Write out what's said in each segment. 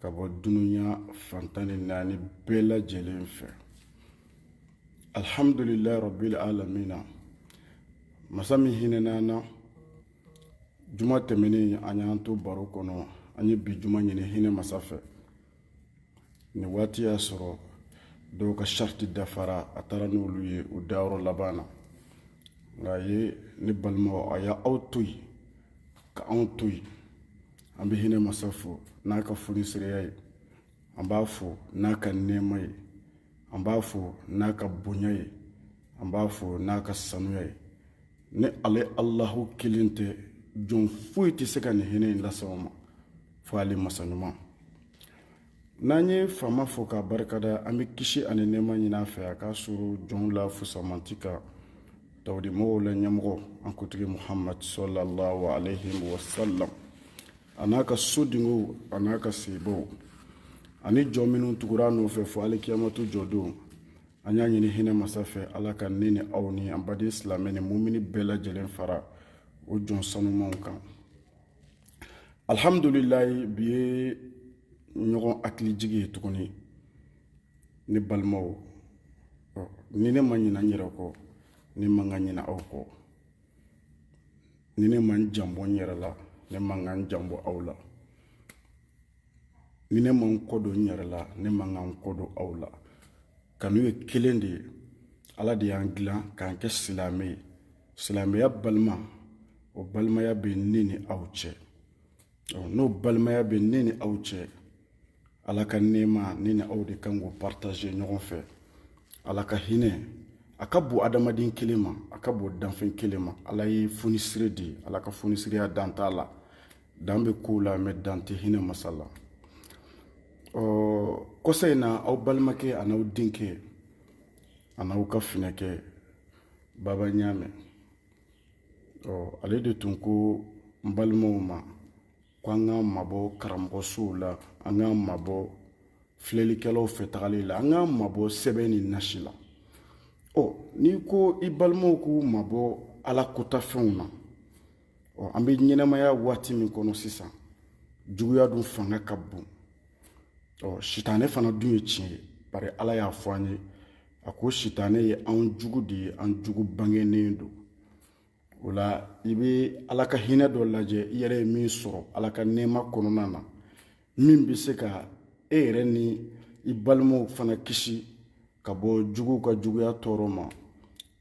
ka bɔ dunuya fan tan ni naani bɛɛ lajɛlen fɛ alhamdulilayi rabbil alamina masa min hinɛna an na juma tɛmɛnen a y'an to baro kɔnɔ an ye bi juma ɲini hinɛ masa fɛ nin waati y'a sɔrɔ dɔw ka sarati dafara a taara n'olu ye u dayɔrɔ laban na nka a ye ne balimaw a ye aw to yen ka anw to yen an bɛ hinɛ masa fo n'a ka fonisereya ye an b'a fo n'a ka nɛɛma ye an b'a fo n'a ka bonya ye an b'a fo n'a ka sanuya ye ni ale alahu kelen tɛ jɔn foyi tɛ se ka nin hinɛ in lase anw ma fo ale masa ɲuman n'an ye faama fo k'a barikada an bɛ kisi ani nɛɛma ɲini a fɛ a k'a suuru jɔnw la fusamanti kan tawudimɔgɔw la ɲɛmɔgɔ an kuntigi muhamadu sɔlallahu alayhi wa sallam a n'a ka so dingow a n'a ka sahabaw ani jɔn minnu tugura a nɔfɛ fo alikiyamatu jɔdon an y'a ɲini hinɛ masa fɛ ala ka ne ni aw ni an baden silamɛ ni mumini bɛɛ lajɛlen fara o jɔn sanumanw kan alihamudulilayi bi ye ɲɔgɔn hakilijigi ye tuguni ne balimaw ni ne ma ɲina n yɛrɛ kɔ ne man ka ɲina aw kɔ ni ne ma n janbɔ n yɛrɛ la ne man ka n janbɔ aw la ni ne ma n kɔdon n yɛrɛ la ne man ka n kɔdon aw la kanu ye kelen de ye ala de y'an dilan k'an kɛ silamɛ ye silamɛya balima o balimaya bɛ ne ni aw cɛ n'o balimaya bɛ ne ni aw cɛ ala ka nɛɛma ne ni aw de ka kan k'o partager ɲɔgɔn fɛ ala ka hinɛ a ka bon adamaden kelen ma a ka bon danfɛn kelen ma ala ye fonisire de ye ala ka fonisireya dan t'a la dan bɛ kow la mais dan tɛ hinɛ masa la kɔsa in na aw balimakɛ an'aw denkɛ an'aw ka finɛkɛ baba ɲaamɛ ɔ ale de tun ko n balimaw ma ko an k'an mabɔ karamɔgɔsow la an k'an mabɔ filɛlikɛlaw fɛ tagali la an k'an mabɔ sɛbɛn ni nasi la ɔ n'i ko i balimaw k'u mabɔ ala kɔntafɛnw na ɔ an bɛ ɲɛnamaya waati min kɔnɔ sisan juguya dun fanga ka bon ɔ sitanɛ fana dun ye tiɲɛ ye bari ala y'a fɔ an ye a ko sitanɛ ye an jugu de ye an jugu bangenen don o la i bɛ ala ka hinɛ dɔ lajɛ i yɛrɛ ye min sɔrɔ ala ka nɛɛma kɔnɔna na min bɛ se ka e yɛrɛ ni i balimaw fana kisi ka bɔ juguw ka juguya tɔɔrɔ ma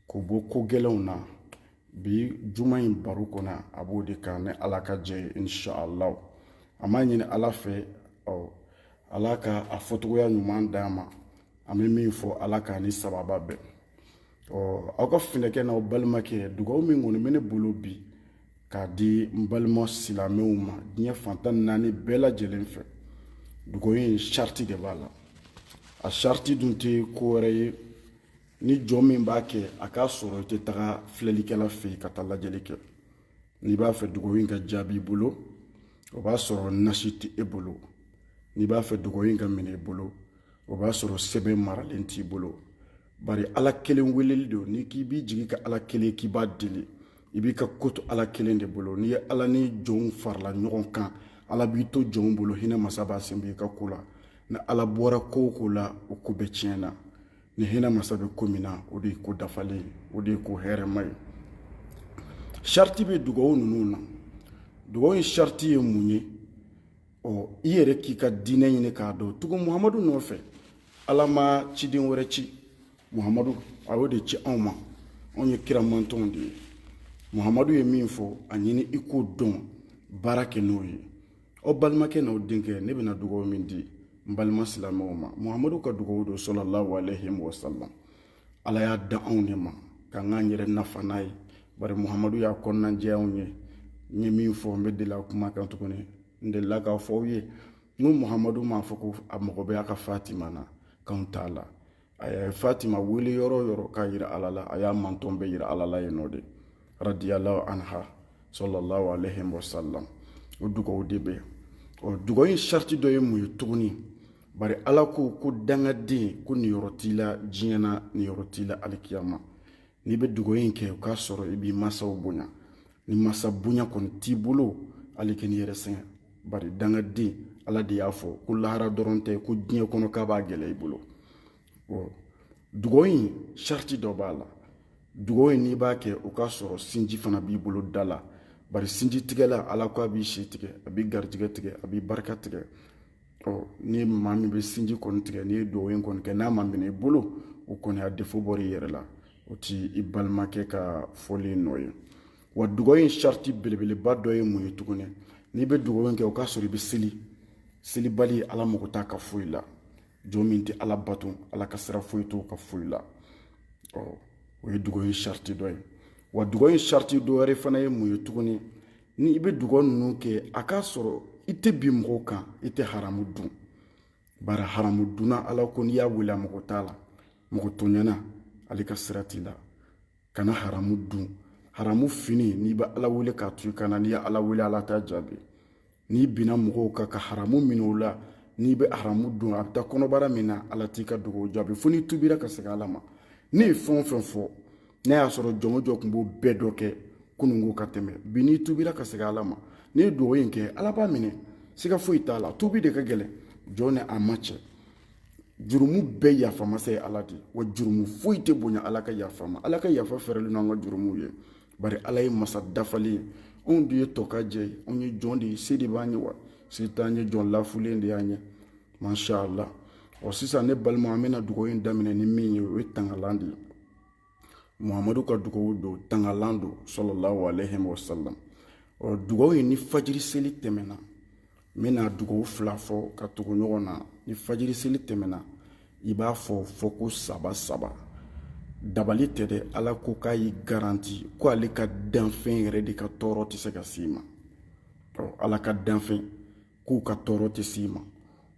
k'u bɔ ko gɛlɛnw na bi juma in baro kɔnɔ a b'o de kan ni ala ka jɛ ye inshallah an b'a ɲini ala fɛ ɔ ala ka a fɔcogoya ɲuman d'an ma an bɛ min fɔ ala k'a ni sawaba bɛn ɔ aw ka finɛkɛ n'aw balimakɛ dugawu min kɔni bɛ ne bolo bi k'a di n balima silamɛw ma diɲɛ fan tan ni naani bɛɛ lajɛlen fɛ dugawu in sariti de b'a la a sariti dun tɛ ko wɛrɛ ye ni jɔn min b'a kɛ a k'a sɔrɔ i tɛ taga filɛlikɛla fɛ yen ka taa lajɛli kɛ n'i b'a fɛ dugawu in ka jaabi i bolo o b'a sɔrɔ nasi tɛ e bolo n'i b'a fɛ dugawu in ka minɛ i bolo o b'a sɔrɔ sɛbɛn maralen t'i bolo bari ala kelen weleli don n'i k'i b'i jigi kɛ ala kelen k'i b'a deli i b'i ka ko to ala kelen de bolo n'i ye ala ni jɔnw fara ɲɔgɔn kan ala b'i to jɔnw bolo hinɛ masa b'a sen b'i ka ko la ni ala bɔra ko o ko la o ko bɛɛ tiɲɛna ni hinɛ masa bɛ ko min na o de ye ko dafalen o de ye ko hɛrɛma ye sariti bɛ dugawu ninnu na dugawu in sariti ye mun ye ɔ i yɛrɛ k'i ka diinɛ ɲini k'a dɔn tugu muhamadu nɔfɛ ala ma ciden wɛrɛ ci muhamadu a y'o de ci anw ma anw ye kira mantɔnw de ye muhamadu ye min fɔ a ɲini i k'o dɔn baara kɛ n'o ye aw balimakɛ n'aw denkɛ ne bɛna dugaw min di n balima silamɛw ma muhamadu ka dugaw don sallallahu alayhi wa sallam ala y'a da anw de ma k'an k'an yɛrɛ nafa n'a ye bari muhamadu y'a kɔnɔnajɛ anw ye n ye min fɔ n bɛ deli a kuma kan tuguni n delila k'a fɔ aw ye n ko muhamadu m'a fɔ ko a mago bɛ a ka fatima na k'anw t'a la a ye fatima wele yɔrɔ o yɔrɔ k'a jira ala la a y'a mantɔn bɛɛ jira ala la yen nɔ de radiyallahu anha sallallahu alayhi wa sallam o dugawu de bɛ ɔ dugawu in sariti dɔ ye mun ye tuguni bari ala ko ko dangaden ko niyɔrɔ t'i la diɲɛ na niyɔrɔ t'i la alikiyama n'i bɛ dugawu in kɛ o k'a sɔrɔ i b'i mansaw bonya ni mansa bonya kɔni t'i bolo hali kan'i yɛrɛ sɛgɛn bari dangaden ala de y'a fɔ ko lahara dɔrɔn tɛ ko diɲɛ kɔnɔ k'a b'a gɛlɛya i bolo dugawu in sariti dɔ b'a la dugawu in n'i b'a kɛ o k'a sɔrɔ sinji fana b'i bolo da la bari sinjitigɛla ala ko a b'i si tigɛ a b'i garijɛgɛ tigɛ a b'i barika tigɛ ɔ ni maa min bɛ sinji kɔni tigɛ n'i ye dugawu in kɔni kɛ n'a ma minɛ i bolo o kɔni y'a defo bɔr'i yɛrɛ la o t'i balimakɛ ka fɔli nɔ ye wa dugawu in sariti belebeleba dɔ ye mun ye tuguni n'i bɛ dugawu in kɛ o k'a sɔrɔ i bɛ seli selibali ala mago t'a ka foyi la jɔn min tɛ ala bato ala ka sira foyi t'o ka foyi la ɔ o ye dugawu in sariti dɔ ye wa dugawu in sariti dɔ wɛrɛ fana ye mun ye tuguni ni i bɛ dugawu ninnu kɛ a k'a sɔrɔ i tɛ bin mɔgɔw kan i tɛ haramu dun bari haramu dunna ala ko n'i y'a wele a mago t'a la mɔgɔ tɔɲɛna ale ka sira t'i la kana haramu dun haramu fini n'i bɛ ala wele k'a to i kan na n'i ye ala wele ala t'a jaabi n'i binna mɔgɔw kan ka haramu minɛ u la n'i bɛ haramu dun a bɛ taa kɔnɔbara min na ala t'i ka dugawu jaabi fo n'i tubira ka segin ala ma ne ye fɛn o fɛn fɔ n'a y'a sɔrɔ jɔn o jɔn tun b'o bɛɛ dɔ kɛ kununko ka tɛmɛ bi n'i tubira ka segin ala ma n'i ye dugawu in kɛ ala b'a minɛ siga foyi t'a la tubi de ka gɛlɛn jɔn ni a ma cɛ jurumu bɛɛ yafa masa ye ala de wa jurumu foyi tɛ bonya ala ka yafa ma ala ka yafa fɛrɛlen n'an ka jurumuw ye bari ala ye masa dafalen ye anw de ye tɔkajɛ ye anw ye jɔn de ye se de b'an ye wa se t'an ye jɔn lafulen de y'an ye masha allah ɔ sisan ne balima an bɛna dugawu in daminɛ ni min ye o ye tangalan de ye muhamadu ka dugawu don tangalan don salalahu aleyhi wa salam ɔ dugawu in ni fajiri seli tɛmɛna n bɛna dugawu fila fɔ ka tugu ɲɔgɔn na ni fajiri seli tɛmɛna i b'a fɔ fɔko saba saba dabali tɛ dɛ ala ko k'a y'i garanti ko ale ka danfɛn yɛrɛ de ka tɔɔrɔ tɛ se ka s'i ma ɔ ala ka danfɛn k'u ka tɔɔrɔ tɛ s'i ma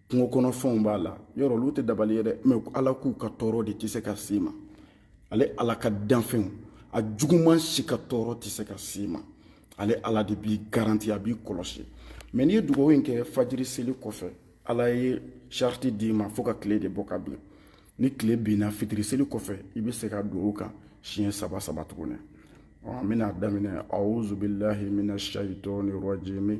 kungo kɔnɔ fɛnw b'a la yɔrɔ olu tɛ dabali ye dɛ mɛ ala k'u ka tɔɔrɔ de tɛ se ka s'i ma ale ala ka danfɛnw a juguman si ka tɔɔrɔ tɛ se ka s'i ma ale ala de b'i garanti a b'i kɔlɔsi mɛ n'i ye dugawu in kɛ fajiri seli kɔfɛ ala ye sariti d'i ma fo ka tile de bɔ ka bin ni tile binna fitiri seli kɔfɛ i bɛ segin a dugawu kan siɲɛ saba saba tuguni an bɛna daminɛ awuzubilahi mina shayitɔni rajimi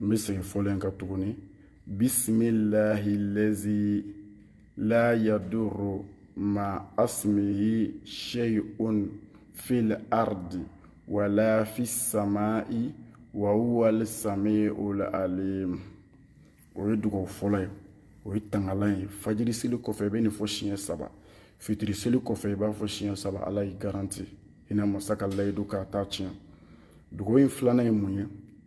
n bɛ segin fɔlen kan tuguni bisimilahi lazi la yaduru ma asimihi sheyun fil ardi wala fi samai wa huwal samiul alim o ye dugawu fɔlɔ ye o ye tangalan ye fajiri seli kɔfɛ i bɛ nin fɔ siɲɛ saba fitiri seli kɔfɛ i b'a fɔ siɲɛ saba ala y'i garanti hinɛ masa ka layidu k'a t'a tiɲɛ dugawu in filanan ye mun ye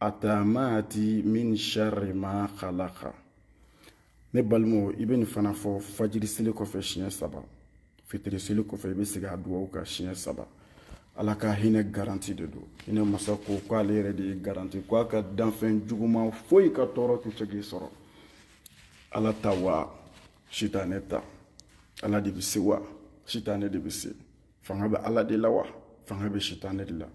atamati min sharri ma khalaqa ne balimaw i bɛ nin fana fɔ fajiri seli kɔfɛ siɲɛ saba fitiri seli kɔfɛ i bɛ segin a dugawu kan siɲɛ saba ala ka hinɛ garanti de don hinɛ masa ko k'ale yɛrɛ de y'i garanti ko a ka danfɛn juguman foyi ka tɔɔrɔ tɛ se k'i sɔrɔ ala ta wa sitanɛ ta ala de bɛ se wa sitanɛ de bɛ se fanga bɛ ala de la wa fanga bɛ sitanɛ de la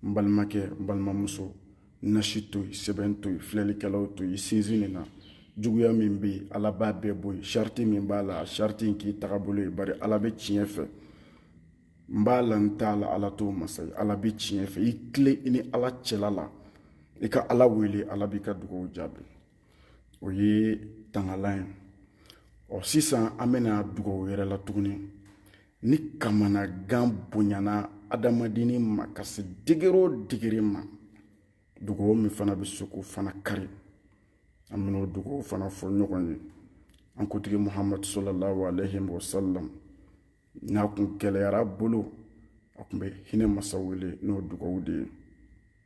n balimakɛ n balimamuso nasi to yen sɛbɛn to yen filɛlikɛlaw to yen sinsin nin na juguya min bɛ yen ala b'a bɛɛ bɔ yen sariti min b'a la sariti in k'i tagabolo ye bari ala bɛ tiɲɛ fɛ n b'a la n t'a la ala t'o masa ye ala bɛ tiɲɛ fɛ i tilen i ni ala cɛla la i ka ala wele ala b'i ka dugaw jaabi o ye tagalan ye ɔ sisan an bɛna dugaw wɛrɛ la tuguni ni kamanagan bonyana adamadennin ma ka se degere o degere ma dugaw min fana bɛ se k'o fana kari an bɛn'o dugaw fana fɔ ɲɔgɔn ye an kuntigi muhamadu sallallahu alaihi wa sallam n'a kun gɛlɛyara a bolo a kun bɛ hinɛ masa wele n'o dugaw de ye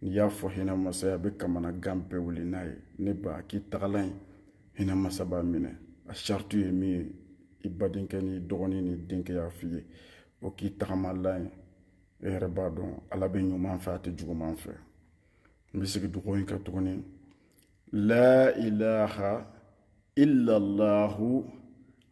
n'i y'a fɔ hinɛ masa ye a bɛ kamanagan bɛɛ wuli n'a ye n'i b'a k'i tagalan ye hinɛ masa b'a minɛ a sariti ye min ye i badenkɛ n'i dɔgɔnin n'i denkɛ y'a f'i ye o k'i tagamalan ye e yɛrɛ b'a dɔn ala bɛ ɲuman fɛ a tɛ juguman fɛ n bɛ segin dugawu in kan tuguni la ilaha illallahu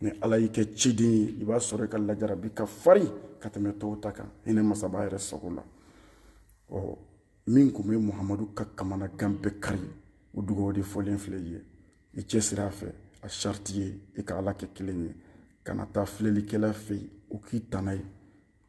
ni ala y'i kɛ ciden ye i b'a sɔrɔ i ka lajarabi ka farin ka tɛmɛ tɔw ta kan hinɛ masaba yɛrɛ sago la ɔ min kun bɛ muhamadu ka kamanagan bɛɛ kari o dugawu de fɔlen filɛ i ye i cɛsiri a fɛ a sariti ye i ka ala kɛ kelen ye kana taa filɛlikɛla fɛ yen o k'i tana ye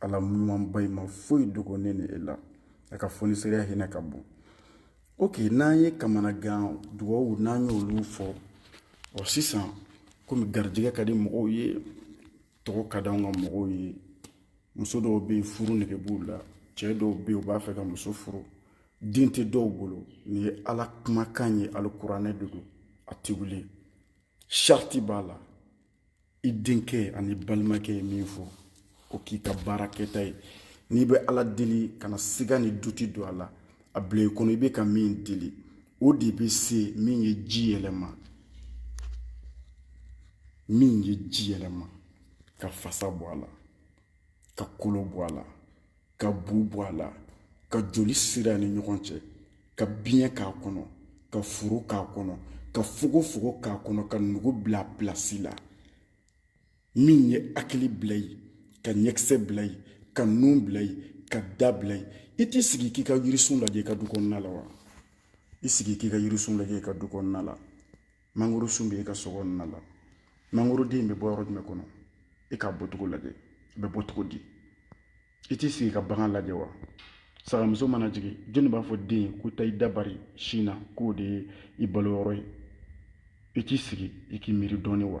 ala ɲumanba in ma foyi dogo ne ni e la a ka fonisereya hinɛ ka bon ok n'an ye kamanagan dugawu n'an y'olu fɔ ɔ sisan komi garijɛgɛ ka di mɔgɔw ye tɔgɔ ka d'anw ka mɔgɔw ye muso dɔw bɛ yen furu nege b'u la cɛ dɔw bɛ yen u b'a fɛ ka muso furu den tɛ dɔw bolo nin ye ala kumakan ye alikuranɛ de don a tɛ wuli sariti b'a la i denkɛ an'i balimakɛ ye min fɔ o k'i ka baara kɛta ye n'i bɛ ala deli kana siga ni duti don a la a bila i kɔnɔ i bɛ ka min deli o de bɛ se min ye ji yɛlɛma min ye ji yɛlɛma ka fasa bɔ a la ka kolo bɔ a la ka bu bɔ a la ka joli sira ni ɲɔgɔn cɛ ka biɲɛ k'a kɔnɔ ka furu k'a kɔnɔ ka fogofogo k'a kɔnɔ ka nugu bila pilasi la min ye hakili bila yen ka ɲɛkisɛ bila yen ka nun bila yen ka da bila yen i t'i sigi k'i ka yirisun lajɛ i ka du kɔnɔna la wa i sigi k'i ka yirisun lajɛ i ka du kɔnɔna la mangoro sun bɛ e ka so kɔnɔna la mangoroden in bɛ bɔ yɔrɔ jumɛn kɔnɔ e k'a bɔcogo lajɛ a bɛ bɔ cogo di i t'i sigi ka bagan lajɛ wa sagamuso mana jigin jɔnni b'a fɔ den ye ko taa i da bari sin na k'o de ye i balo yɔrɔ ye i t'i sigi i k'i miiri dɔɔnin wa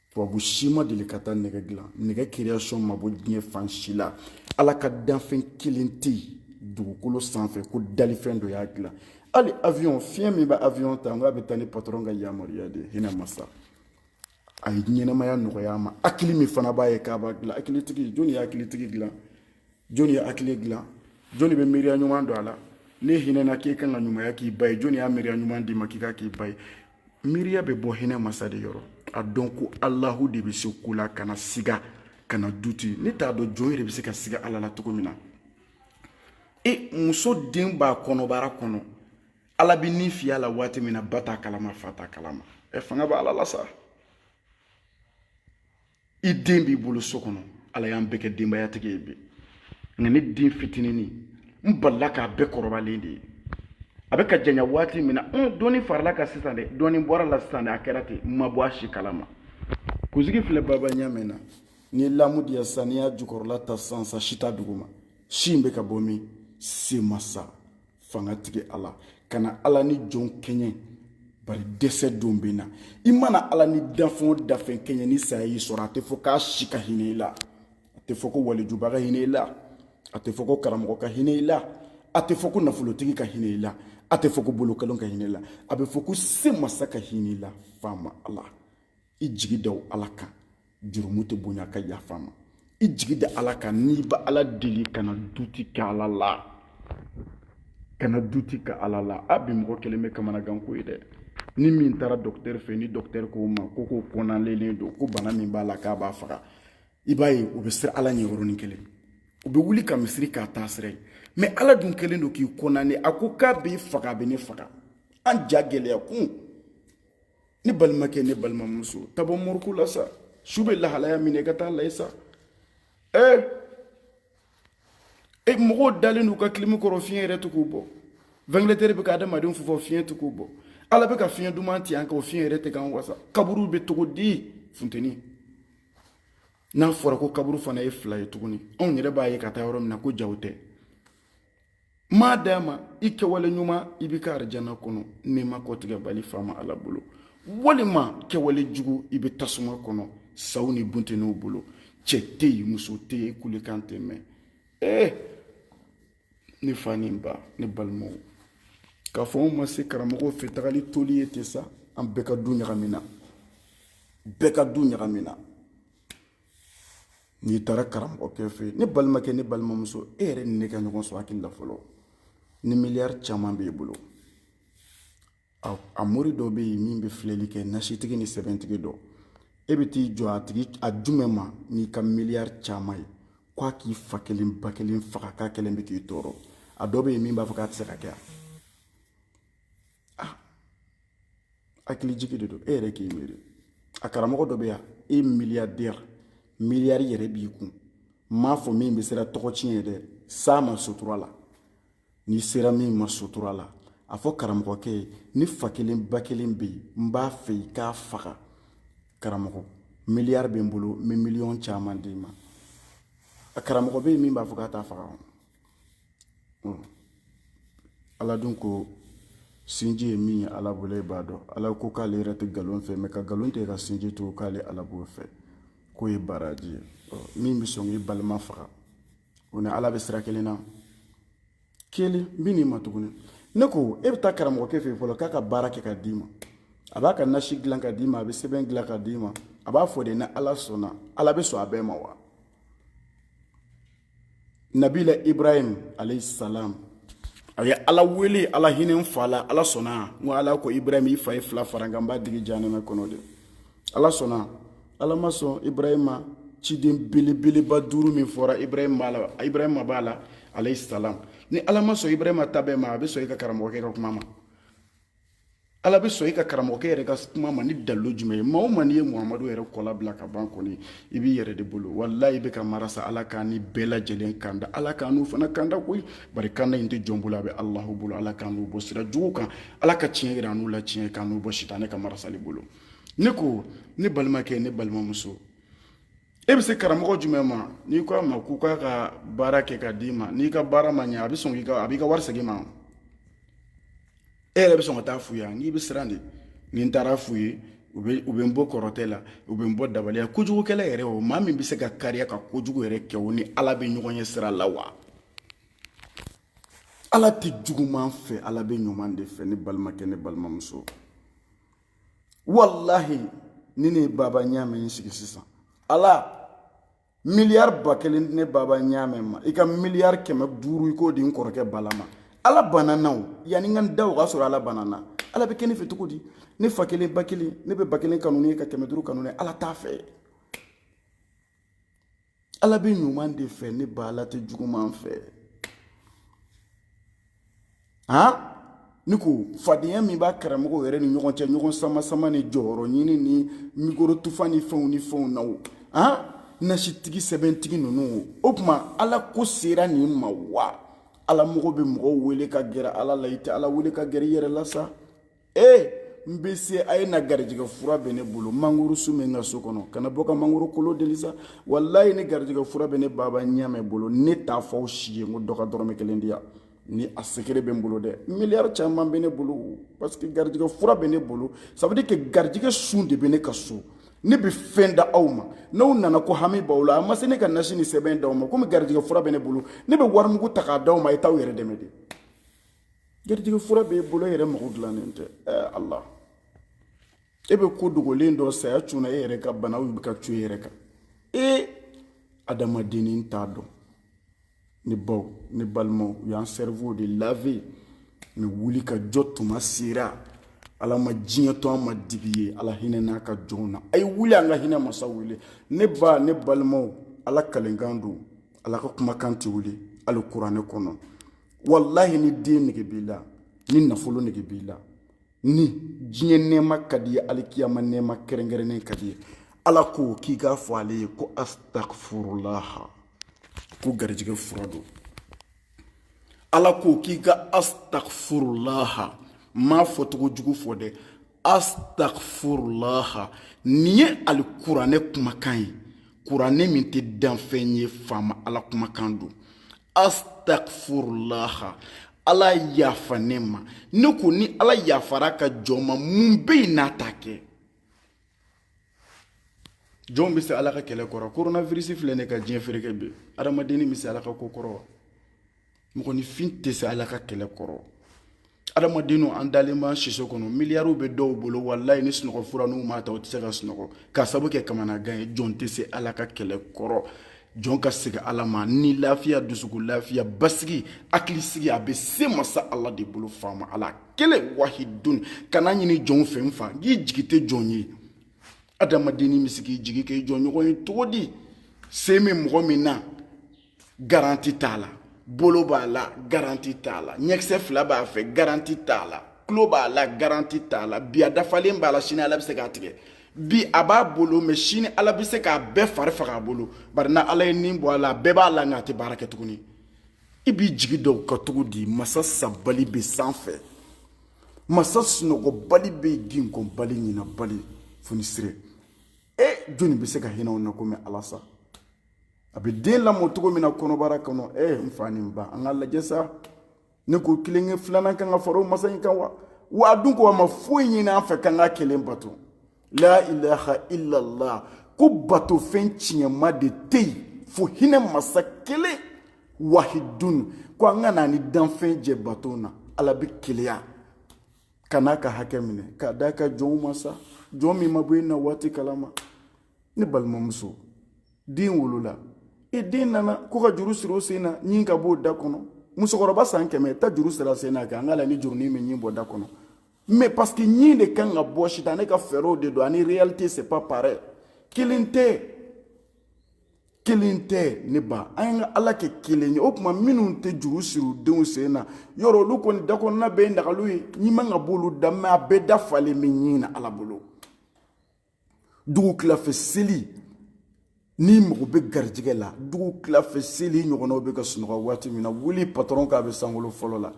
tubabu si ma deli ka taa nɛgɛ dilan nɛgɛ création ma bɔ diɲɛ fan si la ala ka danfɛn kelen tɛ yen dugukolo sanfɛ ko dalifɛn dɔ y'a dilan hali avion fiɲɛ min bɛ avion ta n k'a bɛ taa ni patɔrɔn ka yamaruya de ye hinɛ masa a ye ɲɛnɛmaya nɔgɔya an ma hakili min fana b'a ye k'a b'a dilan hakilitigi jɔni ye hakilitigi dilan jɔni ye hakili dilan jɔni bɛ miiriya ɲuman don a la ne hinɛna k'e kan ka ɲumanya k'i ba ye jɔni y'a miiriya ɲuman d'i ma k'i k'a k'i ba ye miiriya bɛ bɔ hinɛ masa de yɔrɔ a dɔn ko alahu de bɛ se ko la kana siga kana duti ne t'a dɔn jɔn yɛrɛ bɛ se ka siga ala la cogo min na e muso den b'a kɔnɔbara kɔnɔ ala bɛ ni fiyɛ a la waati min na ba t'a kalama fa t'a kalama ɛ fanga bɛ ala la sa i den b'i bolo so kɔnɔ ala y'an bɛɛ kɛ denbayatigi ye bi nka ne den fitinini n balila k'a bɛɛ kɔrɔbalen de ye a bɛ ka janya waati min na n dɔɔni farala a kan sisan dɛ dɔɔni bɔra a la sisan dɛ a kɛra ten n ma bɔ a si kalama kunsigi filɛ baba ɲɛ min na n'i ye lamu diya sisan n'i y'a jukɔrɔla ta sisan sa si t'a duguma si in bɛ ka bɔ min se masa fangatigi ala kana ala ni jɔn kɛɲɛ bari dɛsɛ don bɛ na i mana ala ni dafɛn o dafɛn kɛɲɛ ni saya y'i sɔrɔ a tɛ fɔ k'a si ka hinɛ i la a tɛ fɔ ko walijuba ka hinɛ i la a tɛ fɔ ko karamɔgɔ ka hinɛ i la a tɛ fɔ ko nafolotigi ka hinɛ i la a tɛ fɔ ko bolokolon ka hinɛ i la a bɛ fɔ ko se masa ka hinɛ i la faama ala i jigi da ala kan jurumu tɛ bonya a ka yafa ma i jigi da ala kan n'i bɛ ala deli kana duti kɛ ala la kana duti kɛ ala la an bi mɔgɔ kɛlen bɛ kamanagan ko ye dɛ ni min taara dɔkitɛri fɛ ni dɔkitɛri k'o ma ko k'o condamnélen don ko bana min b'a la k'a b'a faga i b'a ye u bɛ siran ala ɲɛ yɔrɔnin kelen u bɛ wuli ka misiri k'a taasira ye mɛ ala dun kɛlen don k'i condamné a ko k'a b'i faga a bɛ ne faga an ja gɛlɛya kun ne balimakɛ ne balimamuso taa bɔ morgue la sa su bɛ lahalaya min na i ka taa a lajɛ sa ee e mɔgɔw dalen n'u ka kilimi kɔrɔ fiɲɛ yɛrɛ tɛ k'u bɔ vantilatɛri bɛ ka adamadenw fifa fiɲɛ tɛ k'u bɔ ala bɛ ka fiɲɛ duman ci an kan o fiɲɛ yɛrɛ tɛ k'an wasa kaburu bɛ cogo di funteni n'a fɔra ko kaburu fana ye fila ye tuguni anw yɛrɛ b'a ye ka taa yɔrɔ min na ko jaw tɛ maadama i kɛwale ɲuman i bɛ a ka arijana kɔnɔ nɛɛma kɔtigɛbali faama ala bolo walima kɛwale jugu i bɛ tasuma kɔnɔ saw ni bunteninw bolo cɛ tɛ yen muso tɛ yen kulekan tɛ mɛn ee eh, ne fa ni n ba ne balimaw k'a fɔ anw ma se karamɔgɔw fɛ taali toli ye ten sa an bɛɛ ka du ɲagamina bɛɛ ka du ɲagamina n'i taara karamɔgɔkɛ fɛ yen ne balimakɛ ne balimamuso e yɛrɛ ni ne ka ɲɔgɔn sɔrɔ hakili la fɔlɔ ni miliyari caman b'i bolo a mori dɔ bɛ yen min bɛ filɛli kɛ nasitigi ni sɛbɛntigi dɔ e bɛ t'i jɔ a tigi a jumɛn ma n'i ka miliyari caman ye ko a k'i fa kelen ba kelen faga k'a kelen bɛ k'i tɔɔrɔ a dɔ bɛ yen min b'a fɔ k'a tɛ se ka kɛ yan ah hakilijigin de don e yɛrɛ k'i miiri a karamɔgɔ dɔ bɛ yan e miliyardɛri miliyari yɛrɛ b'i kun m'a fɔ min bɛ siran tɔgɔ tiɲɛ ye dɛ s'a ma sutura la n'i sera min ma sutura la a fɔ karamɔgɔkɛ ye ne fa kelen ba kelen bɛ yen n b'a fɛ i k'a faga karamɔgɔ miliyari bɛ n bolo n bɛ miliyɔn caman d'i ma a karamɔgɔ bɛ yen min b'a fɔ k'a t'a faga ala dun ko sinji ye min ye ala bolo e b'a dɔn ala ko k'ale yɛrɛ tɛ nkalon fɛ mɛ ka nkalon tigɛ ka sinji to k'ale ala b'o fɛ k'o ye baraji ye min bɛ sɔn k'i balima faga o ni ala bɛ sira kelen na kelen n bɛ n'i ma tuguni ne ko e bɛ taa karamɔgɔkɛ fɛ yen fɔlɔ k'a ka baara kɛ ka d'i ma a b'a ka nasi dilan ka d'i ma a bɛ sɛbɛn dilan ka d'i ma a b'a fɔ de ni ala sɔnna ala bɛ sɔn a bɛɛ ma wa nabila ibrahim alayhi salam a ye ala wele ala hinɛ n fa la ala sɔnna n ko ala ko ibrahim i fa ye fila fara n kan n b'a digi janɛmɛ kɔnɔ de ala sɔnna ala ma sɔn ibrahim ma ciden belebeleba duuru min fɔra ibrahim b'a la ibrahim b'a la alayhi salam ni ala ma sɔn ibrahim ta bɛɛ ma a bɛ sɔn i ka karamɔgɔkɛ ka kuma ma ala bɛ sɔn i ka karamɔgɔkɛ yɛrɛ ka kuma ma ni dalilu jumɛn ye maa o maa n'i ye muhamadu yɛrɛ kɔla bila ka ban kɔni i b'i yɛrɛ de bolo walayi i bɛ ka marasa ala k'an ni bɛɛ lajɛlen kanda ala k'an n'u fana kanda koyi bari kanda in tɛ jɔn bolo a bɛ alahu bolo ala k'an n'u bɔ sira jugu kan ala ka tiɲɛ yira an n'u la tiɲɛ k'an n'u bɔ sitanɛ ka marasali bolo ne ko ne balimakɛ ne balimamuso e bɛ se karamɔgɔ jumɛn ma n'i ko a ma k'u k'a ka baara kɛ ka d'i ma n'i ka baara ma ɲɛ a bɛ sɔn k'i ka a b'i ka wari segin i ma e yɛrɛ bɛ sɔn ka t'a f'u ye yan n'i bɛ siran de ni n taara f'u ye u bɛ u bɛ n bon kɔrɔtɛ la u bɛ n bon dabali la kojugukɛla yɛrɛ o maa min bɛ se ka kariya ka kojugu yɛrɛ kɛ o ni ala bɛ ɲɔgɔn ye sira la wa ala tɛ juguman fɛ ala bɛ ɲuman de fɛ ne balimakɛ ne balimamuso walahi ni ne ye baba ɲaamɛ n sigi sisan ala miliyari ba kelen di ne baba ɲaamɛ ma i ka miliyari kɛmɛ duuru i k'o di n kɔrɔkɛ bala ma ala banna n na o yanni n ka n da o k'a sɔrɔ ala banna n na ala bɛ kɛ ne fɛ cogo di ne fa kelen ba kelen ne bɛ ba kelen kanu ne ye ka kɛmɛ duuru kanu ne ala t'a fɛ ala bɛ ɲuman de fɛ ne ba ala tɛ juguman fɛ han ne ko fadenya min b'a karamɔgɔw yɛrɛ ni ɲɔgɔn cɛ ɲɔgɔn sama sama ni jɔyɔrɔ ɲini ni mikoro tufa ni fɛnw ni fɛnw na o han nasitigi sɛbɛntigi ninnu o o tuma ala ko sera nin ma wa ala mɔgɔ bɛ mɔgɔw wele ka gɛrɛ ala la i tɛ ala wele ka gɛrɛ i yɛrɛ la sa ee n bɛ se a ye na garijɛgɛ fura bɛ ne bolo mangoro sun bɛ n ka so kɔnɔ ka na bɔ ka mangoro kolo deli sa walayi ni garijɛgɛ fura bɛ ne baba ɲɛmɛ bolo ne t'a fɔ aw si ye n ko dɔ ka dɔrɔmɛ kelen di yan ni a sekere bɛ n bolo dɛ miliyari caman bɛ ne bolo parce que garijɛgɛ fura bɛ ne bolo ça veut dire que garijɛgɛ sun de bɛ ne ka so ne bɛ fɛn d'aw ma n'aw nana ko hami b'aw la a ma se ne ka nasi ni sɛbɛn d'aw ma komi garijɛgɛ fura bɛ ne bolo ne bɛ warimugu ta k'a d'aw ma a ye t'aw yɛrɛ dɛmɛ dɛ garijɛgɛ fura b'e bolo e yɛrɛ mago dilannen tɛ ɛɛ ala e bɛ ko dogolen dɔn saya cunna e yɛrɛ ka banaw bɛ ka cun e yɛrɛ kan e adamadennin t'a dɔn ne baw ne balimaw u y'an cerveaux de laver mais wuli ka jɔ tuma sera ala ma diɲɛ to an ma dibi ye ala hinɛn'a ka jɔnw na a ye wuli an ka hinɛ masa wele ne ba ne balimaw ala kalikan don ala ka kumakan tɛ wuli alikuranɛ kɔnɔ walahi ni den nege b'i la ni nafolo nege b'i la ni diɲɛ nɛɛma ka d'i ye alikiyama nɛɛma kɛrɛnkɛrɛnnen ka d'i ye ala ko k'i k'a fɔ ale ye ko astagfurulaha ko garijɛgɛ fura don ala ko k'i ka astagfurulaha m'a fɔcogo jugu fɔ dɛ astagfurulaha nin ye alikuranɛ kumakan ye kuranɛ min tɛ danfɛn ye faama ala kumakan don astagfurulaha ala yafa ne ma ne ko ni ala yafara a ka jɔn ma mun bɛ yen n'a t'a kɛ jɔn bɛ se ala ka kɛlɛ kɔrɔ koronavirisi filɛ nin ka diɲɛ fereke bi adamadennin bɛ se ala ka ko kɔrɔ wa mɔgɔninfin tɛ se ala ka kɛlɛ kɔrɔ adamaden o an dalen b'an siso kɔnɔ miliyariw bɛ dɔw bolo walayi ni sunɔgɔ fura n'u m'a ta u tɛ se ka sunɔgɔ k'a sabu kɛ kamanagan ye jɔn tɛ se ala ka kɛlɛ kɔrɔ jɔn ka segin ala ma ni lafiya dusukun lafiya basigi hakilisigi a bɛ se masa ala de bolo faama ala kelen wahidun kan'a ɲini jɔnw fɛ n fa k'i jigi tɛ jɔn ye adamadennin bɛ se k'i jigi kɛ jɔnɲɔgɔn ye cogo di sen bɛ mɔgɔ min na garanti t'a la bolo b'a la garanti t'a la ɲɛkisɛ fila b'a fɛ garanti t'a la tulo b'a la garanti t'a la bi a dafalen b'a la sini ala bɛ se k'a tigɛ bi a b'a bolo mais sini ala bɛ se k'a bɛɛ fari faga a bolo bari n'ala ye ni bɔ a la a bɛɛ b'a la nka a tɛ baara kɛ tuguni i b'i jigi da o kan cogo di masa sabali bɛ sanfɛ masa sunɔgɔbali bɛ yen jingɔnbali ɲinabali fonisire e jɔni bɛ se ka hinɛ o na komi ala sa a bɛ den lamɔ cogo min na kɔnɔbara kɔnɔ e eh, n fa ni ba an k'a lajɛ sa ne ko kelenkɛ filanan kan ka fara o masa in kan wa wa a dun ko a ma foyi ɲini an fɛ k'an k'a kelen bato la ilaha illallah ko bato fɛn tiɲɛma de tɛ yen fo hinɛ masa kelen wahidun ko an kana a ni danfɛn jɛ bato la ala bɛ keleya ka n'a ka hakɛ minɛ k'a d'a ka jɔnw ma sa jɔn min ma bɔ e na waati kalama ne balimamuso den wolola e den nana ko ka juru siri o sen na ɲin ka b'o da kɔnɔ musokɔrɔba san kɛmɛ taa juru siri a sen na kɛ an k'a lajɛ ni jurunin bɛ ɲin bɔ da kɔnɔ mais parce que ɲin de kan ka bɔ sitanɛ ka fɛɛrɛw de don ani réalité c'est pas pareil kelen tɛ kelen tɛ ne ba an ye ka ala kɛ kelen ye o tuma minnu tɛ juru siri u denw sen na yɔrɔ olu kɔni dakɔnɔna bɛɛ ye nagaliw ye ɲin man kan ka b'olu da mais a bɛɛ da falen bɛ ɲin na ala bolo dugu tilafɛ seli n'i mago bɛ garijɛgɛ la dugu tilafɛ seli i ɲɔgɔnnaw bɛ ka sunɔgɔ waati min na wuli patɔrɔn k'a bɛ sankolo fɔlɔ la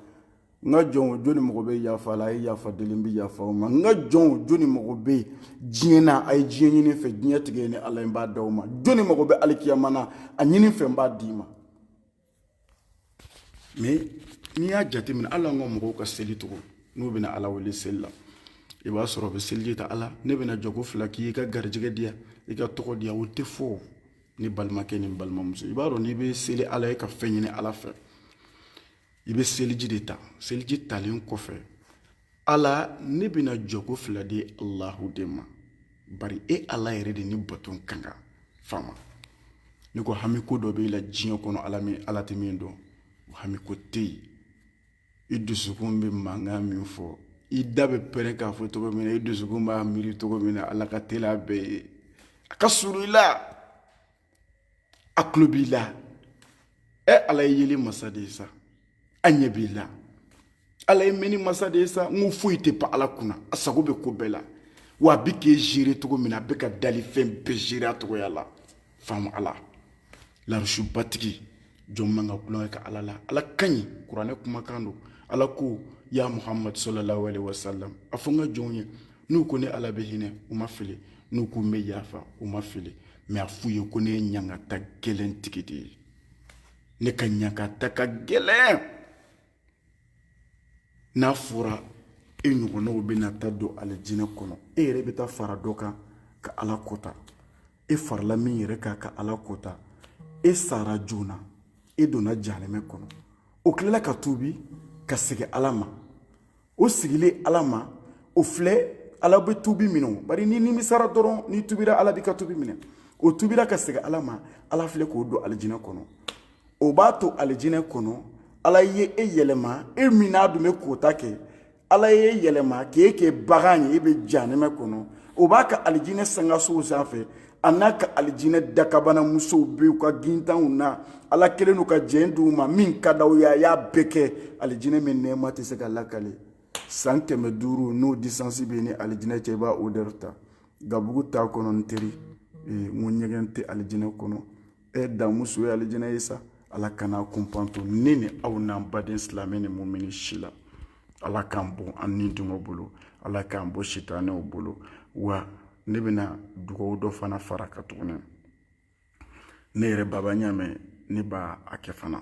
n ka jɔnw jɔni mago bɛ yafa la a ye yafa deli n bɛ yafa o ma n ka jɔnw jɔni mago bɛ diɲɛ na a ye diɲɛ ɲini n fɛ diɲɛ tigi ne ala ye n b'a d'aw ma jɔni mago bɛ alikiyama na a ɲini n fɛ n b'a d'i ma mais n'i y'a jateminɛ hali an ka mɔgɔw ka seli cogo n'u bɛna ala wele seli la i b'a sɔrɔ u bɛ seliji ta ala ne bɛna jɔko fila kɛ i ka n garijɛgɛ diya i ka n tɔgɔ diya o tɛ fɔ ne balimakɛ ni balimamuso i b'a dɔn n'i bɛ seli ala ye ka fɛn ɲini ala fɛ i bɛ seliji de ta seliji talen kɔfɛ ala ne bɛna jɔko fila di alahu de ma bari e ala yɛrɛ de ni bato ka kan fama ne ko hami ko dɔ b'e la diɲɛ kɔnɔ ala min ala tɛ min dɔn o hami ko tɛ yen i dusukun bɛ mankan min fɔ i da bɛ pɛrɛn k'a fɔ cogo min na i dusukun b'a miiri cogo min na ala ka teli a bɛɛ ye a ka surun i la a tulo b'i la ɛ ala ye yeli masa de ye sa a ɲɛ b'i la ala ye mɛnni masa de ye sa n ko foyi tɛ pan ala kunna a sago bɛ ko bɛɛ la wa a bɛ k'e gérer cogo min na a bɛ ka dalifɛn bɛɛ gérer a cogoya la faamu ala larusubatigi jɔn man ka kulonkɛ ka ala la ala ka ɲi kuranɛ kumakan don ala ko ya muhamadu salalahu aleyi wasalam a fɔ n ka jɔnw ye n'u ko ne ala bɛ hinɛ u ma fili n'u ko n bɛ yafa u ma fili mais a f'u ye ko ne ye ɲangata gɛlɛn tigi de ye ne ka ɲangata ka gɛlɛn n'a fɔra e ɲɔgɔnnaw bɛna taa don alijinɛ kɔnɔ e yɛrɛ bɛ taa fara dɔ kan ka ala kota e farala min yɛrɛ kan ka ala kota e sara joona e donna jahanɛmɛ kɔnɔ o tilala ka tuubi ka segi ala ma o segilen ala ma o filɛ ala bɛ tuubi minɛ o bari n'i nimisara dɔrɔn n'i tuubira ala b'i ka tuubi minɛ o tuubira ka segi ala ma ala filɛ k'o don alijinɛ kɔnɔ o b'a to alijinɛ kɔnɔ ala ye e yɛlɛma e min n'a tun bɛ kota kɛ ala y'e yɛlɛma k'e kɛ bagan ye e bɛ janɛmɛ kɔnɔ o b'a ka alijinɛ sankansow sanfɛ a n'a ka alijinɛ dakabana musow bɛ u ka gintanw na ala kelen n'u ka jɛn d'u ma min ka d'aw ye a y'a bɛɛ kɛ alijinɛ min nɛɛma tɛ se ka lakali san kɛmɛ duuru n'o distance b'e ni alijinɛ cɛ i b'a odɛri ta gabugu t'a kɔnɔ n teri n ko ɲɛgɛn tɛ alijinɛ kɔnɔ e daamuso ye alijinɛ ye sa ala kan'a kunpan to ne ni aw n'an baden silamɛ ni mumini si la ala k'an bɔ an ni dungɔ bolo ala k'an bɔ sitanɛw bolo wa ne bɛna dugawu dɔ fana far'a kan tuguni ne yɛrɛ baba ɲamɛ ne b'a a kɛ fana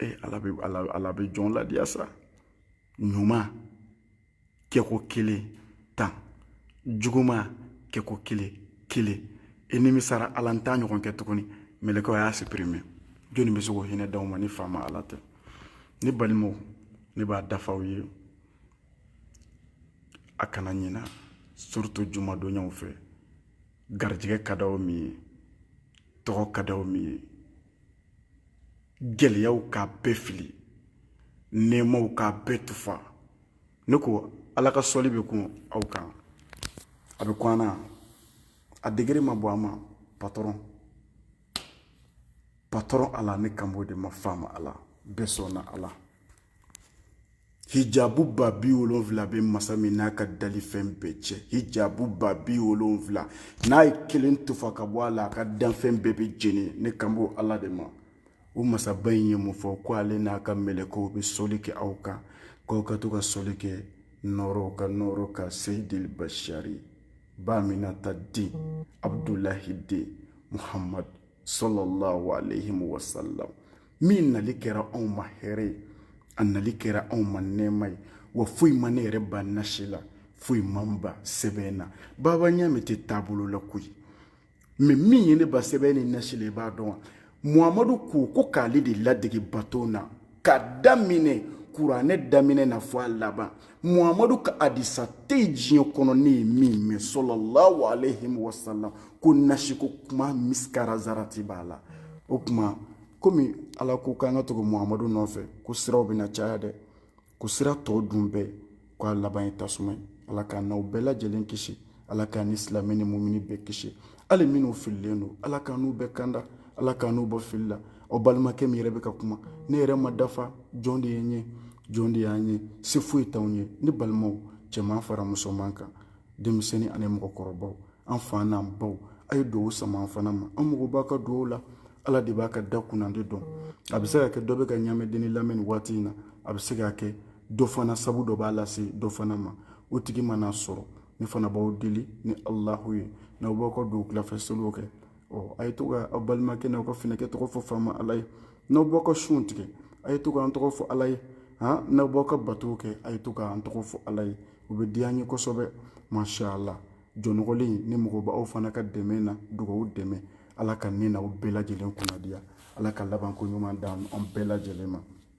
ee ala bɛ ala ala bɛ jɔn ladiya sa ɲuman kɛko kelen tan juguman kɛko kelen kelen e nimisara ala n t'a ɲɔgɔn kɛ tuguni mɛlɛkɛw a y'a supprime jɔni bɛ se k'o hinɛ d'aw ma ni faama ala tɛ ne balimaw ne b'a daf'aw ye a kana ɲina surtout jumadonyaw fɛ garijɛgɛ ka d'aw min ye tɔgɔ ka d'aw min ye gɛlɛyaw k'a bɛɛ fili nɛɛmaw k'a bɛɛ tufa ne ko ala ka sɔli bɛ kun aw kan a bɛ kun an na a degere ma bɔ an ma patɔrɔn patɔrɔn ala ne kan b'o de ma faama ala bɛɛ sɔnna ala hijabu ba bi wolonfila bɛ masa min n'a ka dalifɛn bɛɛ cɛ hijabu ba bi wolonfila n'a ye kelen tufa ka bɔ a la a ka danfɛn bɛɛ bɛ jeni ne kan b'o ala de ma o masaba in ye mun fɔ ko ale n'a ka mɛlɛkɛw bɛ sɔli kɛ aw kan k'aw ka to ka sɔli kɛ nɔɔrɔ ka nɔɔrɔ kan seyidili basari ba aminata den abudulahi den muhammadu sallallahu alayhi wa sallam min nali kɛra anw ma hɛrɛ ye a nali kɛra anw ma nɛɛma ye wa foyi ma ne yɛrɛ ban nasi la foyi ma n ban sɛbɛn na baba ɲamɛ tɛ taabolo la koyi mɛ min ye ne ban sɛbɛn ni nasi la i b'a dɔn wa muhamadu ko ko k'ale de ladege baton na ka daminɛ kuranɛ daminɛ na fo a laban muhamadu ka adisa tɛ yen diɲɛ kɔnɔ ne ye min mɛn sallallahu alayhi wa sallam ko nasiko kuma misikala zarati b'a la o tuma komi ala ko k'an ka tugu muhamadu nɔfɛ ko siraw bɛna caya dɛ ko sira tɔw dun bɛɛ k'a laban ye tasuma ye ala k'an n'aw bɛɛ lajɛlen kisi ala k'an ni silamɛ ni mumini bɛɛ kisi hali minnu fililen don ala k'an n'u bɛɛ kanda ala k'an n'u bɔ fili la aw balimakɛ min yɛrɛ bɛ ka kuma ne yɛrɛ ma dafa jɔn de ye n ye jɔn de y'an ye se foyi t'anw ye ne balimaw cɛman fara musoman kan denmisɛnnin ani mɔgɔkɔrɔbaw an fa n'an baw a ye dugawu sama an fana ma an mago b'a ka dugawu la ala de b'a ka da kunnandi dɔn a bɛ se ka kɛ dɔ bɛ ka ɲamɛ dennin lamɛn nin waati in na a bɛ se ka kɛ dɔ fana sabu dɔ b'a lase dɔ fana ma o tigi mana sɔrɔ ne fana b'aw deli ni alahu ye n'aw b'aw ka don wulafɛ seliw kɛ ɔ a ye to ka aw balimakɛ n'aw ka finɛkɛ tɔgɔ fɔ faama ala ye n'aw b'aw ka sunw tigɛ a ye to k'an tɔgɔ fɔ ala ye han n'aw b'aw ka batow kɛ a ye to k'an tɔgɔ fɔ ala ye o bɛ diya n ye kosɛbɛ mashala jɔn nɔgɔlen nin mago b'aw fana ka dɛmɛ na dugawu dɛmɛ ala ka ne n'aw bɛɛ lajɛlen kunnadiya ala ka labanko ɲuman d'an bɛɛ lajɛlen ma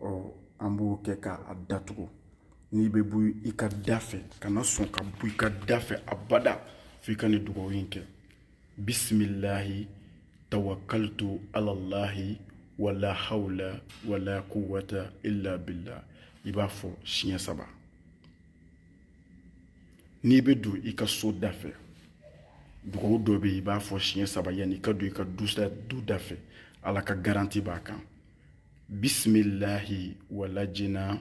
ɔ an b'o kɛ k'a datugu n'i bɛ bɔ i ka da fɛ kana sɔn ka bɔ i ka da fɛ abada f'i ka nin dugawu in kɛ bisimilahi tawakalitu alalahi wala hawla wala quwwata illa billah i b'a fɔ siɲɛ saba n'i bɛ don i ka so da fɛ dugawu dɔ bɛ yen i b'a fɔ siɲɛ saba yanni i ka don i ka du da fɛ ala ka garanti b'a kan bisimilahi walajina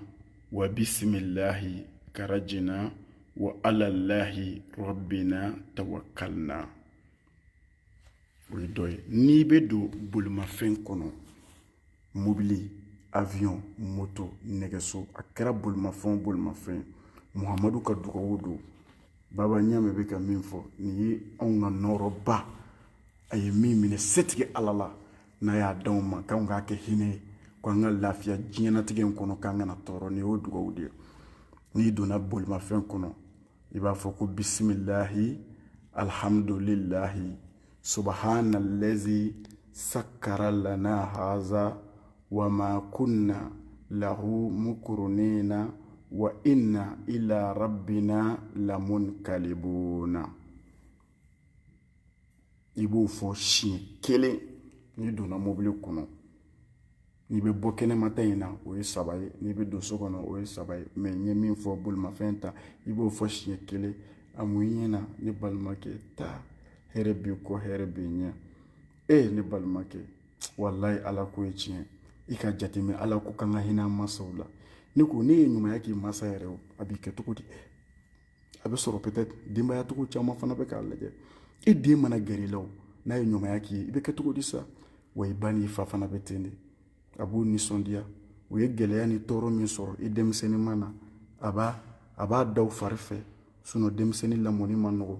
wa bisimilahi karajina wa alalahi rabina tawakalina o ye dɔ ye n'i bɛ don bolimafɛn kɔnɔ mobili avion moto nɛgɛso a kɛra bolimafɛn o bolimafɛn muhamadu ka dugawu don baba ɲamɛ bɛ ka min fɔ nin ye anw ka nɔɔrɔba a ye min minɛ setigi ala la n'a y'a d'anw ma k'anw k'a kɛ hinɛ ye ko an ka lafiya diɲɛnatigɛ in kɔnɔ k'an kana tɔɔrɔ nin y'o dugawu de ye n'i donna bolimafɛn kɔnɔ i b'a fɔ ko bisimilahi alihamudulilahi subahana lazi sakara lana haza wa ma kunna lahu mukurunina wa inna ila rabbina lamunkalibuna i b'o fɔ siɲɛ kelen n'i donna mobili kɔnɔ n'i bɛ bɔ kɛnɛma ta in na o ye saba ye n'i bɛ don so kɔnɔ o ye saba ye mɛ n ye min fɔ bolimafɛn ta i b'o fɔ siɲɛ kelen a mun i ɲɛ na ne balimakɛ taa hɛrɛ b'i kɔ hɛrɛ b'i ɲɛ e ne balimakɛ walayi ala ko ye tiɲɛ i ka jateminɛ ala ko k'an ka hinɛ an mansaw la ne ko n'e ye ɲumanya k'i mansa yɛrɛ o a b'i kɛ cogo di a bɛ sɔrɔ peut être denbayatigi caman fana bɛ k'a lajɛ e den mana gɛrɛ i la o n'a ye ɲumanya k'i ye i bɛ kɛ cogo di sa wa i ba n'i fa fana bɛ ten de a b'u nisɔndiya u ye gɛlɛya ni tɔɔrɔ min sɔrɔ i denmisɛnnin ma na a b'a a b'a da u fari fɛ sinɔn denmisɛnnin lamɔni man nɔgɔn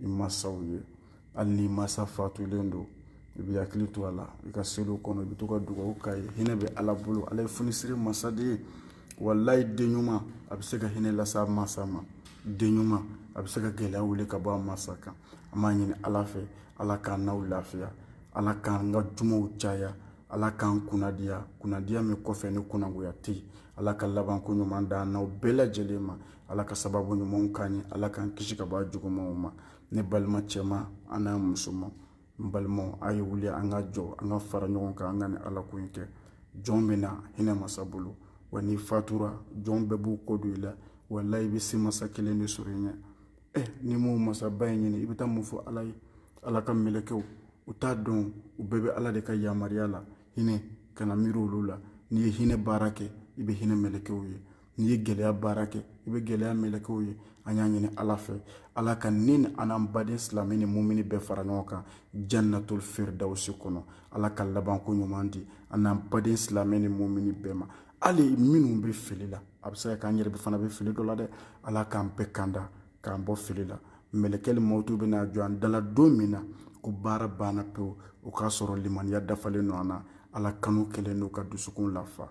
i masaw ye hali ni masa fatulen don i bɛ hakili to a la i ka seliw kɔnɔ i bɛ to ka dugawu k'a ye hinɛ bɛ ala bolo ale ye funisiri masa de ye walayi den ɲuman a bɛ se ka hinɛ lase a masa ma den ɲuman a bɛ se ka gɛlɛya wuli ka bɔ a masa kan an b'a ɲini ala fɛ ala k'an n'aw lafiya ala k'an ka jumaw caya ala k'an kunnadiya kunnadiya min kɔfɛ ni kunnagoya tɛ yen ala ka labanko ɲuman d'an n'aw bɛɛ lajɛlen ma ala ka sababu ɲumanw k'an ye ala k'an kisi ka bɔ a jugumanw ma ne balima cɛman n'a musoman balimaw a ye wuli an ka jɔ an ka fara ɲɔgɔn kan an ka nin ala ko in kɛ jɔn bɛ na hinɛ masa bolo wa n'i fatura jɔn bɛɛ b'u kɔ don i la walayi i bɛ se masa kelen de sɔrɔ i ɲɛ ɛ n'i m'o masaba in ɲini i bɛ taa mun fɔ ala ye ala ka mɛlɛkɛw u t'a dɔn u bɛɛ bɛ ala de ka yamaruya la hinɛ kana miiri olu la n'i ye hinɛ baara kɛ i bɛ hinɛ mɛlɛkɛw ye n'i ye gɛlɛya baara kɛ i bɛ gɛlɛya mɛlɛkɛw ye an y'a ɲini ala fɛ ala ka ne ni an n'an baden silamɛ ni mumini bɛɛ fara ɲɔgɔn kan jannatul firdawusi kɔnɔ ala ka labanko ɲuman di an n'an baden silamɛ ni mumini bɛɛ ma hali minnu bɛ fili la a bɛ se ka k'an yɛrɛ fana bɛ fili dɔ la dɛ ala k'an bɛɛ kanda k'an bɔ fili la mɛlɛkɛli mɔtu bɛna jɔ an da la don min na ko baara banna pewu o k'a sɔrɔ limaniya dafalen don an na ala kanu kɛlen don k'an dusukun lafa